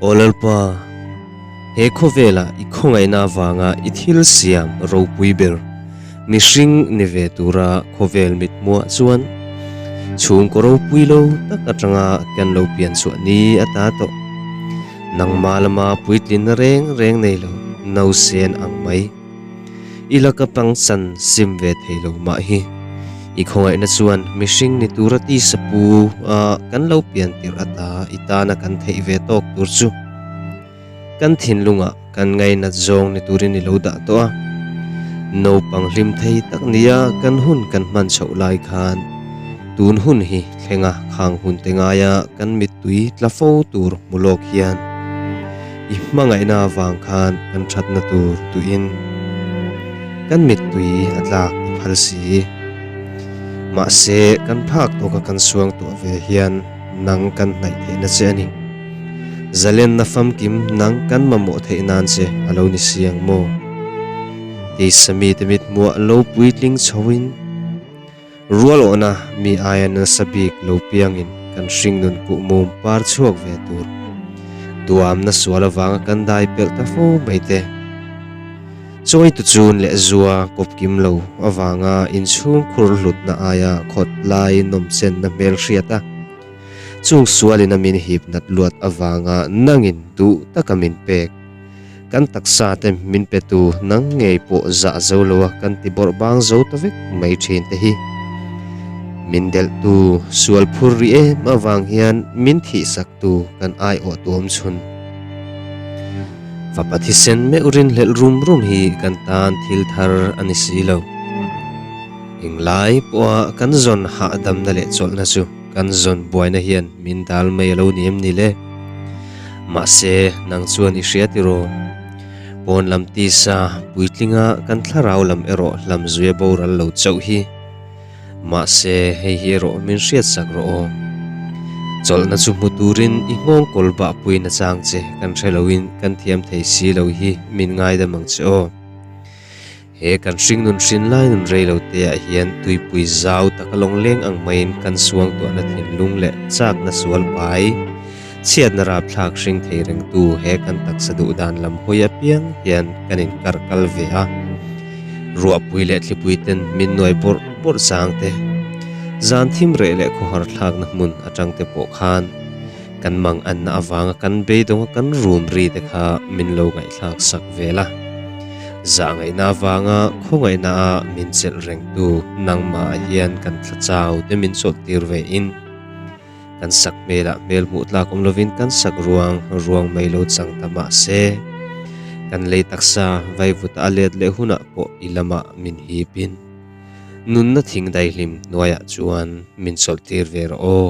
Aw Lalpa, he khawvela i khawngaihna avanga i thil siam ropui ber mihring ni ve tura khawvel mit muah chuan chhung ka ropui lo tak atanga kan lo pian chhuah ni ata tawh. Nangma lama puitlinna reng reng nei lo nausen ang mai. I la ka pangsan sim ve thei lo mah hi. I khawngaihna chuan mihring ni tura tisa pu a kan lo pian tirh ata i tana kan theih ve tawk tur chu kan thinlungah kan ngainat zawng ni turin i lo dah tawh a. Naupang hlimthei tak nia kan hun kan hman chhoh lai khan tun hun hi thlenga khang hunte ngaia kan mittui tla fo tur hmu lawk hian I hmangaihna avang khan kan thatna tur tuihin kan mittui a tlak i phal si. Mahse, kan phak tawka kan suangtuah ve hian nang kan hnaih theihna che a ni. Zalenna famkim nang kan mamawh theih nan che a lo ni si ang maw? Keisa mite mithmuah lo puitling chhoin. Rualawhna mi aia nasa bik lo piangin kan hring nun kuh mum par chhuak ve tur, duamna sual avanga kan dai pelh ta fo mai te, chawi tu chun lehzua kawp kim lo avanga inchhung khur hlutna aia khawt lai nawm chenna hmelhriat a chung sualin a min hip nat luat avanga nangin duh taka min pek. Kan taksa te min pe tu nang ngei pawh zah zo lo a kan ti bawrh bang zo ta vek mai thin te hi. Min delh tu sual phur ri em avang hian min thih sak tu kan ai awh tu awm chhun. Fapa thisen meuh rin hlelh rum rum hi kan tan thil thar a ni si lo. Eng lai pawha kan zawn hahdamna leh chawlhna chu kan zawn buaina hian min dal mai a lo ni em ni le? Mahse, nang chuan i hria tiraw? Pawn lam tisa puitlinga kan thlarau lam erawh hlam zui a boral lo chauh hi. Mahse, hei hi erawh min hriat sak rawh aw. Chawlhna chu hmu turin i nghawng kawl bah puin achang che kan hre loin kan thiam thei si lo hi min ngaidam ang che aw. He kan hringnun hrin lai nun rei lo te ah hian tuipui zau tak a lawngleng ang mai in kan suang tuah na thinlung leh chak na sual pai chhiat na rapthlak hring thei reng tu he kan taksa duh dan lam hawi apiang hian kan in kar kal ve a. Ruahpui leh thlipui ten min nuai bawrh bawrh chang te, zan thim reh leh khawhar thlak na hmun atang te pawh khan Kan mang anna avanga kan beidawnga kan rumri te kha min lo ngaihthlak sak vel a. Zah ngaihna avanga khawngaihna a min chelh rengtu nangma ah hian kan thla chau te min chawlh tir ve in kan sak hmel ah hmel hmuh tlak awm lovin kan sak ruang ruang mai lo chang ta mah se kan lei taksa vaivut a let leh hun ah pawh i lam ah min hip in nunna thing daihlim hnuai ah chuan min chawlh tir ve rawh aw.